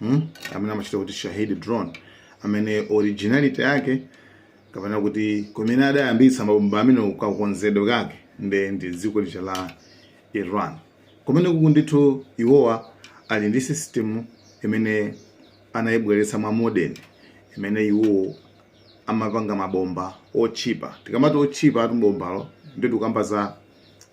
hmm? amene amachita kuti shahid drone amene originality yake kapena kuti kumene adayambitsa mabomba amenewa kakonzedwe kake nde ndi dziko lija la iran kumene kuku ndithu iwowa ali ndi system imene anayibweretsa mwa modern imene iwowo amapanga mabomba otchipa tikamati otchipa atu bombalo nde tikukamba za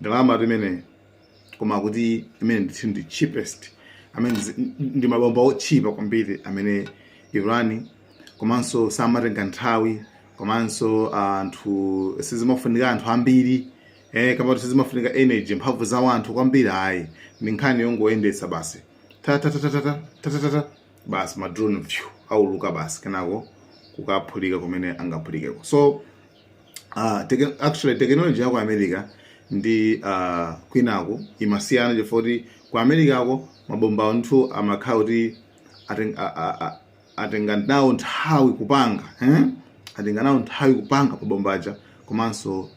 ndalamatu imeneyi koma kuti imene ndithu ndi cheapest amene zi- ndi mabomba otchipa kwambiri amene iran komanso samatenga nthawi komanso anthu sizimafunika anthu ambiri eh, kama kuti sizimafunika energy mphamvu za wanthu kwambiri ayi ndi nkhani yongoyendetsa basi tatatatatata tatatata basi madrone vyu auluka basi kenako kukaphulika kumene angaphulikeko so uh, teke, actually technology ya ku america ndi uh, kwinako imasiyana chifukwa kuti ku americako mabomba anthu amakhala kuti aten- a- a- a- atenga nawo nthawi kupanga eh? atenga nawo nthawi kupanga mabomba aja komanso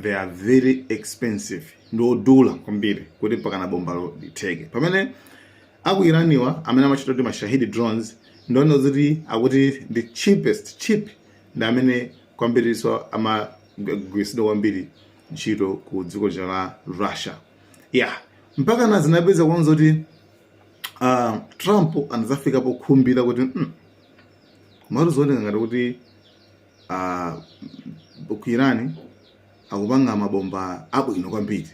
they are very expensive ndi odula kwambiri kuti mpakana bombalo litheke pamene aku iraniwa amene amachita kuti mashahidi drones ndi omwe eti akuti the cheapest cheap ndi amene kwambirinso amagwiritsidwa kwambiri ntchito ku dziko lija la russia ya mpakana zinapezeka kuona zoti uh, trump anadzafika pokhumbira kuti mm, komatu zikuoneka ngati kuti uh, ku irani akupanga mabomba abwino kwambiri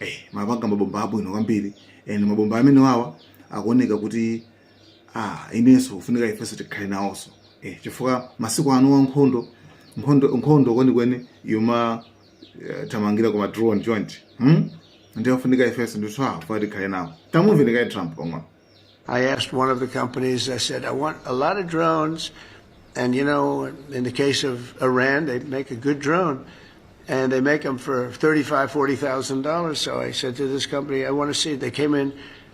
eh, amapanga mabomba abwino kwambiri and mabomba amenewawa akuoneka kuti ah, inenso kufunika ifenso tikhale nawonso eh, chifukwa masiku anowa nkhondo nkhondo nkhondo kwenikweni yoma eh, thamangira ku ma drone drone hmm? ndiye kufunika ifenso ndithu ah, kufunika tikhale nawo tamumveni kaye trump pang'ono I asked one of the companies, I said, I want a lot of drones. And, you know, in the case of Iran, they make a good drone and they make them for $35,000, $40,000. So I said to this company, I want to see it. They came in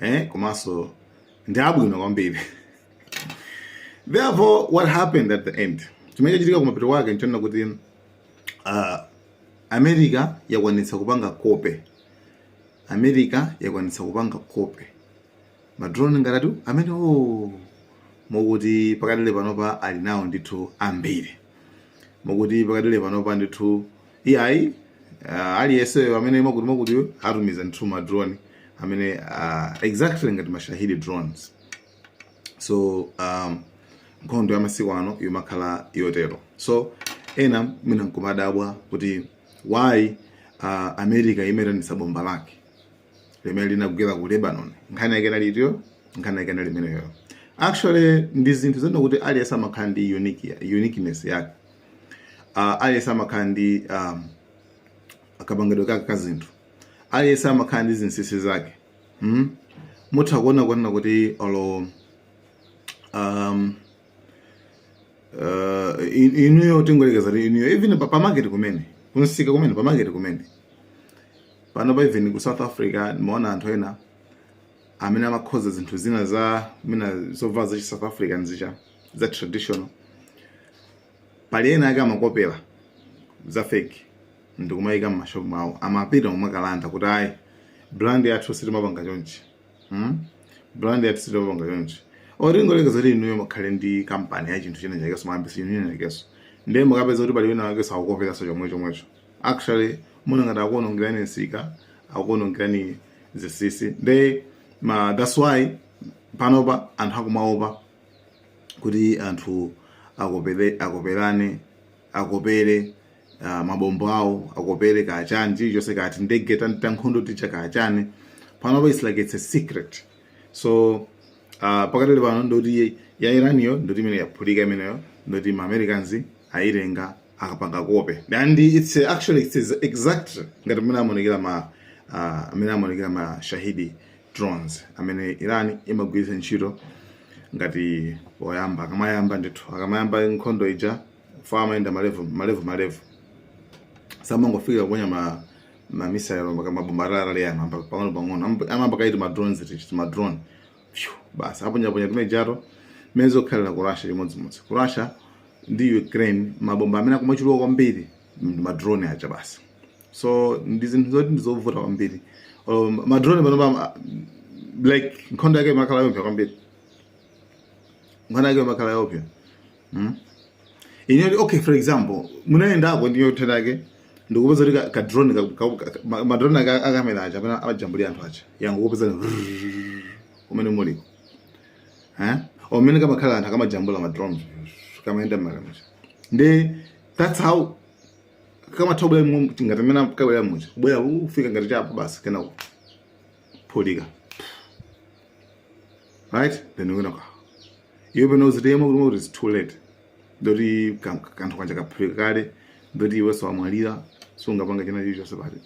eh, komanso ndi abwino kwambiri therefore what happened at the end chimene chachitika kumapeto kwake nchonena kuti uh, america yakwanitsa kupanga kope america yakwanitsa kupanga kope madrone ngati amenewo o oh, mwakuti pakadali panopa ali nawo ndithu ambiri mwakuti pakadali panopa ndithu iyayi uh, aliyenseyo amene mwakuti mwakuti atumiza ndithu ma drone amene uh, exactly ngati mashahidi drones so um, nkhondo ya masiku ano yomakhala yotero so ena mwina nkumadabwa kuti why uh, america imitanitsa bomba lake limene linagwera ku lebanon nkhani yake inali itiyo nkhani yake inali imeneyo actually ndi zinthu zina kuti aliyense amakhala ndi unique- uniqueness yake uh, aliyense amakhala ndi um, kapangidwe kake ka zinthu aliyense amakhala ndi zinsinsi zake mm? mutha kuona kunena kuti olo um, uh, in- inuyo tingoyerekeza kuti inuyo even pa- pamaketi kumene kunsika kumene pamaketi kumene pano pa even ku south africa ndimaona anthu ena amene amakhoza zinthu zina za mina zovala za chi south african zicha za traditional pali ena ake amakopera za fake ndikumayika m'mashopu mawo amapita kumakalanda kuti ayi brand yathu sitimapanga chonchi hmm? brand yathu sitimapanga chonchi olo tingoyerekeza kuti inuyo mukhale ndi kampani ya chinthu china chakeso mwayambisa chinthu china chakeso ndiye mukapeza kuti pali wina wakeso akukoperaso chomwe chomwecho actually mumaona ngati akuonongerani nsika akuonongerani zinsinsi nde ma that's why panopa anthu akumaopa kuti anthu akopere akoperane akopere uh, mabombo awo akopere kachani chilichonse kaya tindege tankhondo ticha kachani panopa it's like it's a secret so uh, pakatali pano ndoti ya iraniyo ndoti imene yaphulika imeneyo ndoti ma americans ayitenga akapanga kope and it's uh, actually it's exact ngati mmene amaonekera ma uh, mmene amaonekera ma shahidi drones amene Iran imagwiritsa ntchito ngati poyamba akamayamba ndithu akamayamba nkhondo ija ija amayenda ma level ma level ma level samangofika kuponya ma ma missile mabomba ataliatali pang'ono pang'ono amayamba kaye ti ma drones ti tima drone basi aponyaponya timejato mmene zikukhalira ku russia chimodzimodzi ku russia ndi ukraine mabomba amene akumachuluka kwambiri ndi ma drone aja basi so ndi zinthu zoti ndizovuta kwambiri um, madrone panopa like nkhondo yake imakhala yoopsa kwambiri nkhondo yake imakhala yoopsa mm? inuyo okay for example munayendako ndiyo thenda yake ndikupeza kuti kadrone madrone akamera aja amene amajambulira anthu aja yangokupeza kumene muliko eh? mmene kamakhalira anthu akamajambula madrone kamayenda mmwamba muja ndi that's how kamathobwera mu ngati mmene kabwera muja kubwera kufika ngati chapa basi kenaka kuphulika right then we're gonna go iwe pomwe uzidziwa iwe kuti it's too late ndoti kanthu kaja kaphulika kale ndoti iwe wamwalira sungapanga china chili chonse pati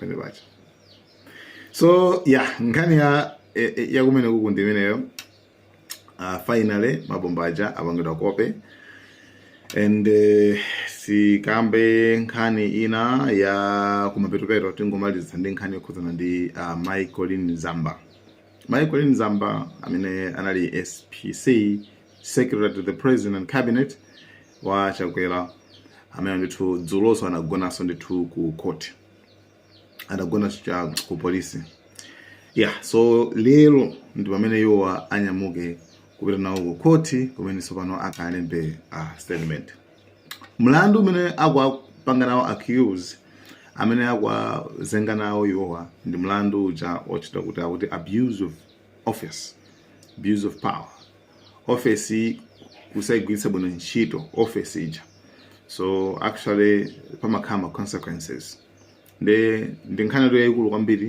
penepaja so yeah nkhani ya eh, eh, yakumene kuku ndi imeneyo uh, finally mabomba aja apangidwa kope and uh, sikambe nkhani ina ya kumapetopeto tingomalizitsa ndi nkhani yokhudzana ndi uh, mai colleen zamba mai colleen zamba amene anali spc secretary to the president and cabinet wa chakwera amene ndithu dzuloso anagonanso ndithu ku court adagona cha ku polisi ya so lero ndi pamene iwowa anyamuke kupita nawo ku khoti kumene tsopano akalembe uh, statement mlandu umene akuwapanga nawo accuse amene akuwazenga nawo iwowa ndi mlandu uja otchedwa kuti akuti abuse of office abuse of power office kusayigwiritsa bwino ntchito office ija so actually pamakhala ma consequences nde ndi nkhani yathu yayikulu kwambiri